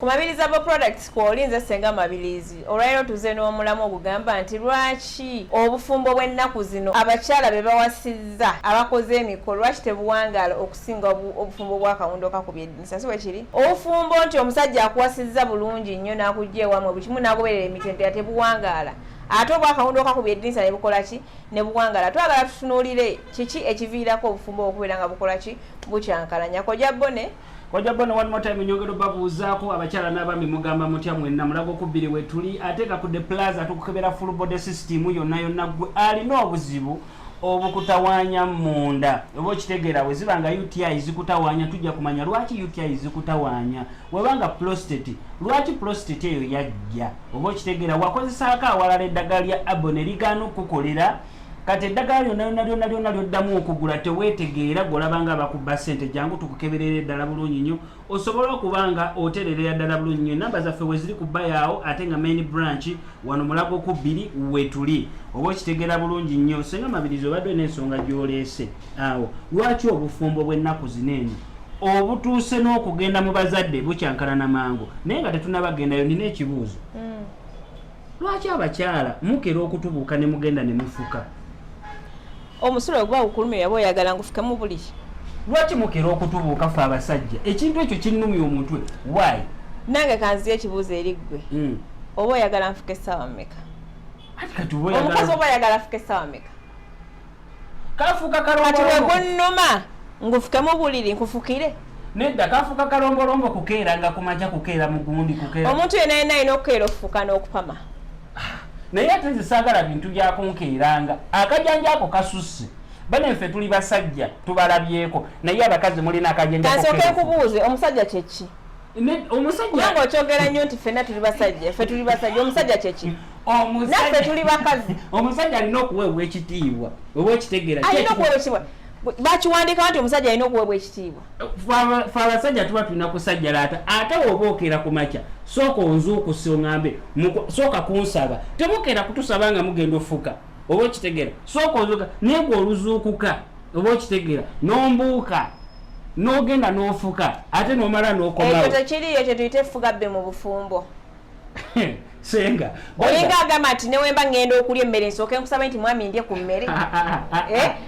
Ku Mabiliza Bo Products kw'oli nze Ssenga Mabilizi. Olwaleero tuze n'omulamwa ogugamba nti lwaki obufumbo bw'ennaku zino abakyala be bawasizza abakoze emikolo lwaki tebuwangaala okusinga obufumbo bw'akawundo kakubye eddinisa si bwe kiri? Obufumbo nti omusajja akuwasizza bulungi nnyo n'akujja ewamwe buli kimu n'agoberera emitendera tebuwangaala ate obwakawundo kakubye eddinisa ne bukola ki ne buwangaala. Twagala tutunuulire kiki ekiviirako obufumbo okubeera nga bukola ki bukyankalanya. Kojja Bone. Kojja Bono one more time nyongera obabuuzaako abakyala n'abaami mugamba mutya mwenna mulaga okubbiri wetuli ate nga ku the plaza tukukebera full body system yonna yonna gwe alina obuzibu obukutawaanya munda oba okitegeera bwe ziba nga uti zikutawaanya tujja kumanya lwaki uti zikutawaanya weba nga prostate lwaki prostate eyo yajja oba okitegeera wakozesaako awalala eddagala lya abo ne ligaana okukukolera kati eddagala lyona lyona lyona lyona lyoddamu okugula teweetegeera golaba nga bakubba ssente jangu tukukeberera eddala bulungi nnyo osobola okuba nga otererera ddala bulungi nnyo enamba zaffe weziri ku bayaawo ate nga main branch wano mulago ku bbiri wetuli oba okitegeera bulungi nnyo senga mabirizi obadde olina ensonga gyoleese awo lwaki obufumbo bw'ennaku zino eno obutuuse n'okugenda mu bazadde bukyankalana mangu naye nga tetunabagendayo nina ekibuuzo mm. lwaki abakyala mukera okutubuuka ne mugenda ne mufuka omusulo oguba gukulumye yaba oyagala ngufukemu buli lwaki mukera okutubuuka fe abasajja ekintu ekyo kinnumya omutwe wayi nange kanziyo ekibuuzo eri ggwe hmm. oba oyagala nfuka essaawa mumeka omukazi oba oyagala afuka essaawa mumeka kafuuka kalombolombo kati wegunnuma ngufuke mu buliri nkufukire nedda kafuuka kalombolombo kukeera nga kumaja kukeera mu gundi kukeera omuntu yena yena alina okukeera okufuka n'okupama ah, naye ate nze saagala bintu byakunkeeranga akajanja ako kasusse bane nfe tuli basajja tubalabyeko naye abakazi mulina akajanja kasooke nkubuuze omusajja kyeki omusajja okyogera nnyo nti fenna tuli basajja fe tuli basajja omusajja kyeki naffe tuli bakazi omusajja alina okuweebwa ekitiibwa oba ekitegeera alina okuweebwa ekitiibwa bakiwandika nti omusajja alina okuweebwa ekitiibwa fe abasajja tuba tulina kusajjalaata ate oba okeera ku makya sooka onzuukusi oŋambe sooka kunsaba temukeera kutusaba nga mugenda ofuka oba okitegera sooka ozuuka naye gwe oluzuukuka oba okitegera nombuuka nogenda nofuka ate nomala nokomaekyo tekiriyo ekyo tuyite efuga bbe mu bufumbo senga olinga agamba nti newemba ngenda okulya emmere nsooke nkusaba nti mwami ndye ku mmere ah, ah, ah, eh?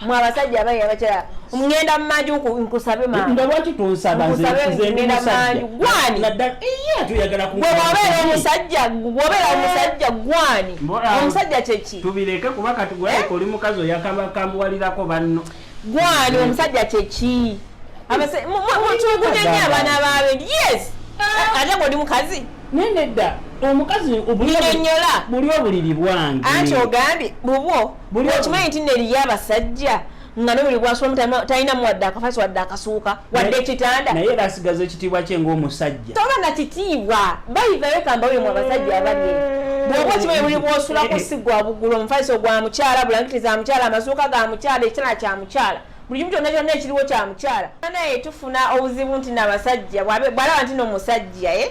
mwe abasajja abayi abakyala ngenda mumanju nkusabe manga lwaki tonsabewabera omusajja wabera omusajja gwani omusajja kyeki tubireke kuba kati gwaleka oli mukazi oyakakambuwalirako banno gwani omusajja kyeki mutugudenye abaana babe yes ate gwe oli mukazi naye nedda omukazi obulibuli obuliri bwange anti ogambye bubwo okimanyi nti neriyo abasajja nga nobuli bwasulamu talinamu wadde akafasi wadde akasuuka wadde ekitanda naye era asigaza ekitiibwa kye ngaomusajja toba na kitiibwa bayivayo kamba oyo mu abasajja abali bwoba okimanyi buli bwosula ku sigwa bugulu omufaliso gwa mukyala bulangiti za mukyala amasuuka ga mukyala ekitala kya mukyala buli kimu kyonna kyonna ekiriwo kya mukyala naye tufuna obuzibu nti nabasajja bwalaba nti nomusajja eh?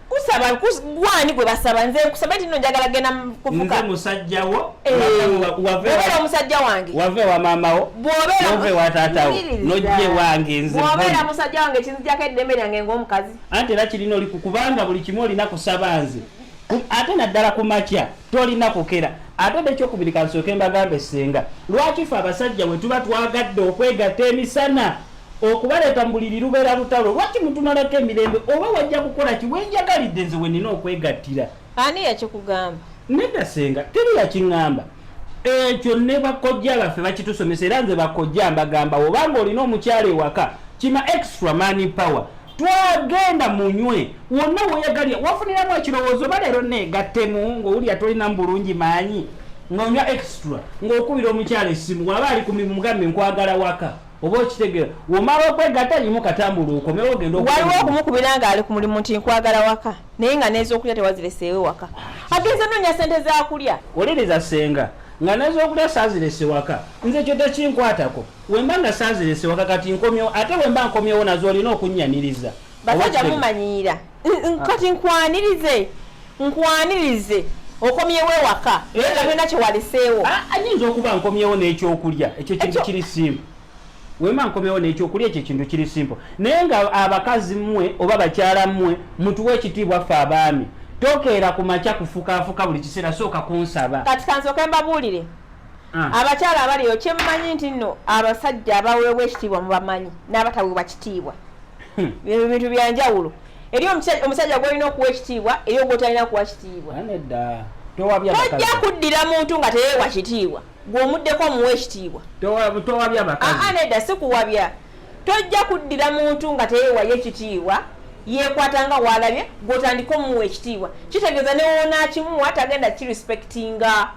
kusaba gwani gwe basaba nze nkusaba nti no njagala genda kufuka nze musajja wo eh, wabera omusajja wange wave wa mama wo bwobera wave wa tata wo nojje wange nze bwobera musajja wange kinzijako eddembe lyange ng'omukazi anti era kirina oli kubanga buli kimu olina kusaba nze ate naddala ku makya tolina kukera ate ode ekyokubiri kansooke mbagambe senga lwaki fe abasajja bwe tuba twagadde okwegatta emisana Okubaleeta mu buliri lubeera lutalo. Lwaki mutumalako emirembe? Oba wajja kukola ki? We njagalidde nze we nnina okwegattira. Ani yakikugamba? Nedda ssenga, teri yakingamba. Ekyo ne bakojja baffe bakitusomesa era nze bakojja mbagamba oba ng'olina omukyala ewaka kima extra money power twagenda munywe wonna weyagalira wafuniramu ekirowoozo oba leero negattemu ng'owulira tolina mu bulungi maanyi ng'onywa extra ng'okubira omukyala essimu waba ali ku mimu mugambe nkwagala waka oba okitegera womala okwegata yimu katambula okomewo ogenda waliwo okumukubira nga ali ku mulimu nti nkwagala waka naye nga nezokulya tewazireseewe waka agenze nonya sente zakulya oliriza senga nga nezokulya sazirese waka nze kyo tekinkwatako wemba nga sazirese waka kati nkomyewo ate wemba nkomyewo nazo olina okunnyaniriza basajja mumanyiira kati nkwanirize nkwanirize okomyewo ewaka naye nga byona kyewaleseewo ayinza okuba nkomyewo n'ekyokulya ekyo kintu kiri simba wema nkomewo nekyokulya ekyo ekintu kiri simple naye nga abakazi mmwe oba bakyala mmwe mutuwa ekitiibwa ffe abaami tokeera ku makya kufukafuka buli kiseera sooka kunsaba kati kansoke mbabuulire Ah. abakyala abaliyo kyemumanyi nti no abasajja abaweebwa ekitiibwa mubamanyi n'abataweebwa kitiibwa hmm. ebyo bintu byanjawulo eri omusajja gwolina okuwa ekitiibwa eri ogwotalina kuwa kitiibwa tojja kuddira muntu nga teyeewa kitiibwa gweomuddeko omuwa ekitiibwa ah, nedda si kuwabya tojja kuddira muntu nga teyeewayo ekitiibwa yekwata nga walabye gwotandika omuwa ekitiibwa kitegeeza newoonakimuwa tagenda kirespectinga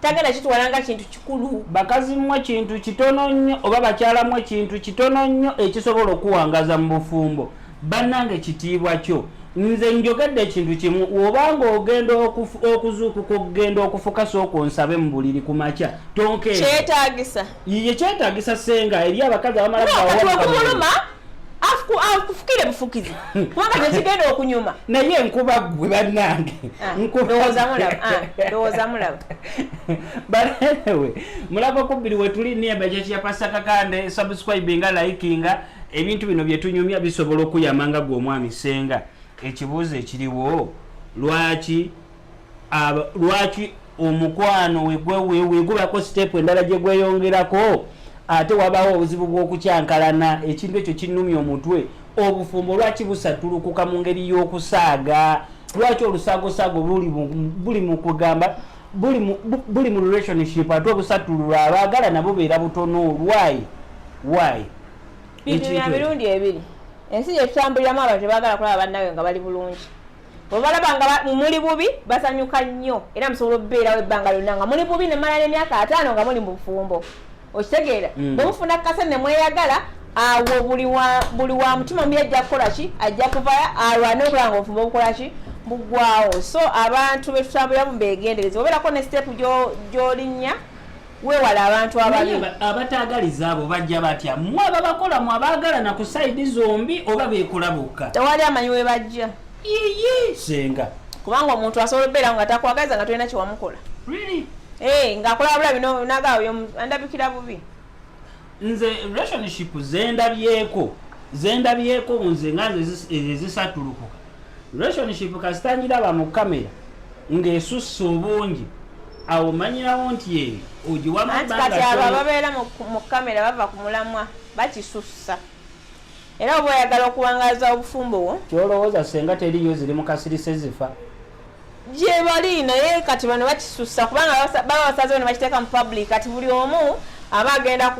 tagenda kitwala nga kintu kikulu bakazi mmwe kintu kitono nnyo oba bakyala mmwe kintu kitono nnyo ekisobola okuwangaza mu bufumbo bannange kitiibwa kyo nze njogedde ekintu kimu obanga ogenda okuzuukuka okugenda okufuka sooka onsabe mu buliri ku makya tonkekyetagisa yiye kyetagisa senga eri abakazi abamala akufukire bufukizi kubanga kyekigenda okunyuma naye nkuba gwe bannange ah, ndowooza mulaba banewe mulaba kubbiri wetuli niye bajakiya pasta kakande subscribinga likinga ebintu bino byetunyumya bisobola okuyamanga gwe omwami senga ekibuuzo ekiriwo lwaki aba lwaki omukwano wegubako sitepu endala gye gweyongerako ate wabaawo obuzibu bw'okukyankalana ekintu ekyo kinnumya omutwe obufumbo lwaki busatulukuka mu ngeri y'okusaaga lwaki olusaagosaago buli mu kugamba buli mu relationship ate obusatululwa abaagala nabo beera butono lwayi wayi bintu bya mirundi ebiri ensi gyetutambuliramu abantu tebagala kulaba bannawe nga bali bulungi obalaba nga muli bubi basanyuka nnyo era musobola okubeerawo ebbanga lyonna nga muli bubi nemala nemyaka ataano nga muli mubufumbo okitegeera mm. bwemufuna kase nemweyagala awo buli wa mutima mubi ajja kukola ki ajja kuvaya alwane okulaba nga obufumbo bukola ki bugwawo so abantu betutambuliramu begendereza obeerako ne sitepu gyolinnya wewale abantu ababi abataagaliza abo bajja batya mwe ababakola mwe abaagalana ku sayidi zombi oba beekola bokka tewali amanyi we bajja yiyi senga kubanga omuntu asobola obeera nga takwagaliza nga tolina kyewamukola really? hey, eh, ngaakola wabula bino nagaawo andabikira bubi nze relationship zendabyeko zendabyeko nze nga ezisatulukuka relationship kasitangiraba mu kamera ng'esussa obungi awo manyirawo nti eyo ogiwamu anti kati abo ababeera mu kamera bava ku mulamwa bakisussa era oba oyagala okuwangaaza obufumbo wo kyolowooza senga teriyo ziri mu kasirise zifa gyebali naye kati bano bakisussa kubanga baba basazewo ne bakiteeka mu public kati buli omu aba agenda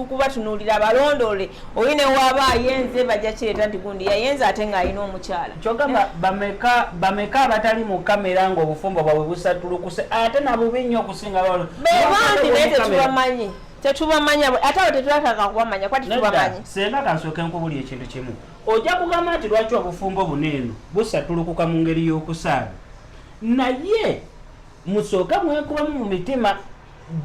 kubatunuulira balondoole oyo newaaba ayenze bajja kireeta nti gundi yayenze ate ng'alina omukyala kyogamba bameka abatali mu kamera ng'obufumbo bwabwe busatulukuse ate nabubi nnyo okusinga bebangi naye tetubamanyi tetubamanya ate abo tetulataka kubamanya kuba tetubamanyi senga kansooke nkubuli ekintu kimu ojja kugamba nti lwaki obufumbo buno eno busatulukuka mu ngeri y'okusaala naye musooke mwekubamu mu mitima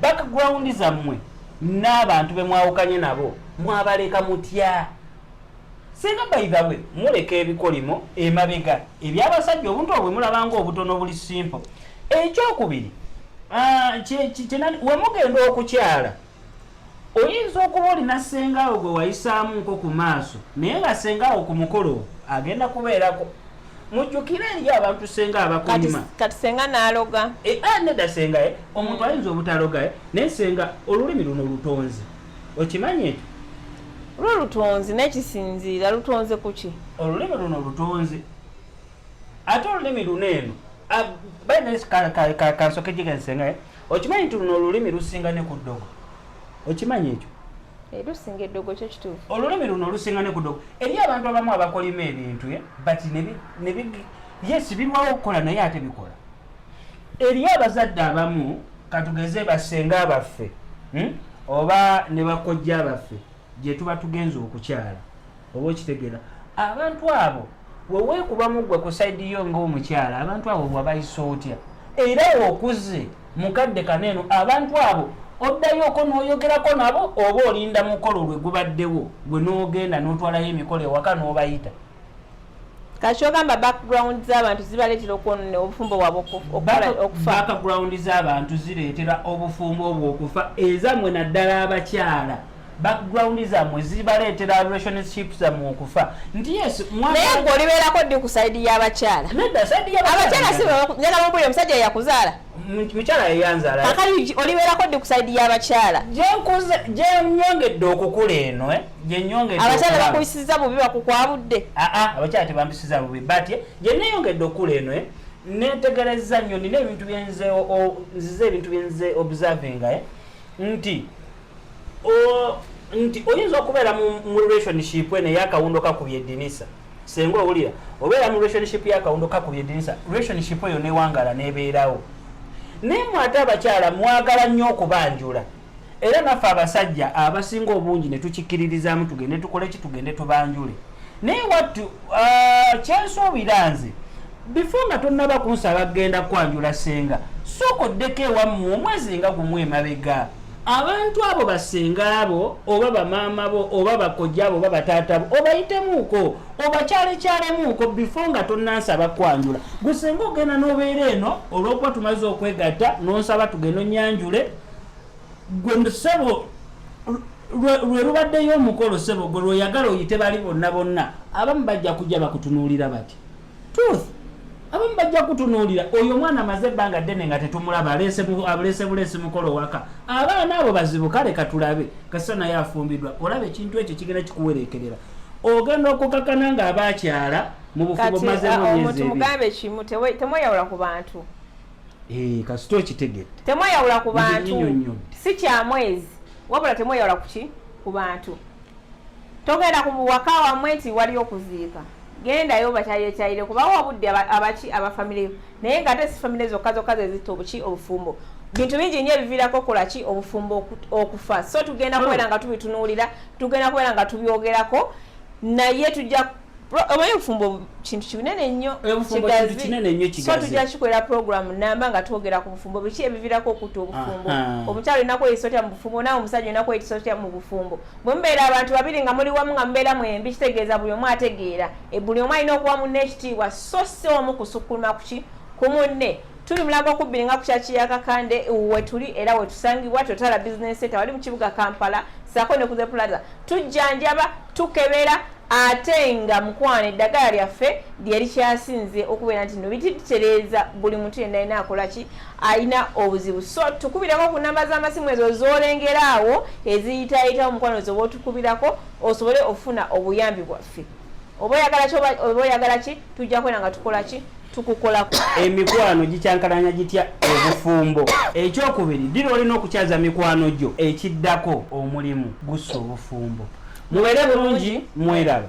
background zammwe n'abantu be mwawukanye nabo mwabaleka mutya singa baithawe muleka ebikolimo emabega ebyabasajja obuntu obwe mulabanga obutono obuli simple ekyokubiri ah, wemugenda okukyala Oyinza okuba olina ssengaawo gwe wayisaamu nko ku maaso naye nga ssengaawo ku mukolo agenda kubeerako mujjukire eri abantu senga abakonyuma kati senga naloga e, eh, ah, neda senga e, omuntu mm. ayinza obutaloga e, naye senga olulimi luno lutonzi okimanyi ekyo lwo lutonzi nekisinziira lutonze kuki olulimi luno lutonzi ate olulimi luno eno ah, baina kansoke jigensenga okimanyi nti luno olulimi lusinga ne ku ddogo okimanyi ekyo eh, lusinga eddogo kyo kituufu olulimi luno lusinga ne ku ddogo eriyo abantu abamu abakolima ebintu eh, but yes birwawo okukola naye ate bikola eriyo abazadde abamu katugeze basenga abaffe hmm, oba ne bakojja abaffe gyetuba tugenze okukyala oba okitegera abantu abo wewekubamu gwe kusaidi yo ngaomukyala abantu abo wabayisa otya era okuze mukadde kaneeno abantu abo oddayoko noyogerako nabo oba olinda mukolo lwe gubaddewo gwe nogenda notwalayo emikolo ewaka nobayita kakyogamba background z'abantu zibaleetera okwonona obufumbo bwabwe okufa background z'abantu zireetera obufumbo obwo okufa ezammwe naddala abakyala background zammwe zibaleetera relationship zammwe okufa nti yes naye gwe olibeerako ddi ku saidi y'abakyala abakyala sinjagala mubuli omusajja yakuzaala mukyala yeyanzaala kakati olibeerako ddi ku saidi y'abakyala gyenyongedde okukula eno eh? abakyala bakuyisiza bubi bakukwabudde ah, ah, abakyala tebambisiza bubi but gyeneyongedde okula eno eh, netegereza nnyo nina ebintu byenze nzize ebintu byenze observinga eh, nti nti oyinza okubeera mu relationship eno eyakawundo kakubye edinisa senga owulira obeera mu relationship yakawundo kakubye edinisa relationship eyo newangala nebeerawo naye mwate abakyala mwagala nnyo okubanjula era naffe abasajja abasinga obungi ne tukikkiririzaamu tugende tukole ki tugende tubanjule naye wattu uh, kyensuubira nze bifo nga tonnaba kunsaba kugenda kwanjula senga sooka oddeko ewammwe omwezi nga gumu emabega abantu abo basenga abo oba bamaama bo oba bakojja abo oba bataata bo obayitemuuko obakyalekyalemuuko bifo nga tonnansaba kwanjula gusenga ogenda n'obeera eno olw'okuba tumaze okwegatta n'onsaba tugenda onyanjule gwe sebo lwe lubaddeyo omukolo sebo gwe lweyagala oyite bali bonna bonna abamu bajja kujja bakutunuulira bati truth abamu bajja kutunuulira oyo omwana amaze ebbanga ddene nga tetumulaba aleese buleesi mukolo owaka abaana abo bazibu kale katulabe kasita naye afumbidwa olaba ekintu ekyo kigenda kikuwereekerera ogenda okukakana nga abaakyala mu bufubo mazemuomutu ah, mugambe kimu temweyawula ku bantu Eh, kasita okitegedde temweyawula ku bantu si kyamwezi wabula temweyawula kuki ku bantu togenda ku waka wamwe nti wali okuziika gendayo bakyayekyayire kubawo obudde abaki abafamire naye nga ate si famire zokka zokka zezitta obuki obufumbo bintu bingi nyo ebiviirako okolaki obufumbo okufa so tugenda kubeera nga tubitunuulira tugenda kubeera nga tubyogerako naye tujja omanyi obufumbo kintu kinene nnyo kigazikikolera programu namba nga twogera ku bufumbo biki ebivirako okutta obufumbo omukyalo olina kweyisa otya mu bufumbo nawe omusajja olina kweyisa otya mu bufumbo bwe mubeera abantu babiri nga muli wamu nga mubeera mwembi kitegeeza buli omu ategeera e, buli omu alina okuwa munne ekitiibwa so si omu kusukuluma kuki ku munne tuli mulago okubbiri nga kukyakiya kakande wetuli era wetusangibwa totala bizinesi etawali mu kibuga kampala sako ne ku the plaza tujjanjaba tukebera ate nga mukwano eddagala lyaffe lyerikyasinze okubeera nti no bititereeza buli muntu yenda alina akolaki alina obuzibu so tukubirako ku namba z'amasimu ezo zolengera awo eziyitayitawo mukwano ezo botukubirako osobole okufuna obuyambi bwaffe oba oyagala ki oba oyagala ki tujja kwera nga tukola ki tukukolako emikwano gikyankalanya gitya obufumbo ekyokubiri ddira olina okukyaza mikwano gyo ekiddako omulimu gussa obufumbo mubeere bulungi mweraba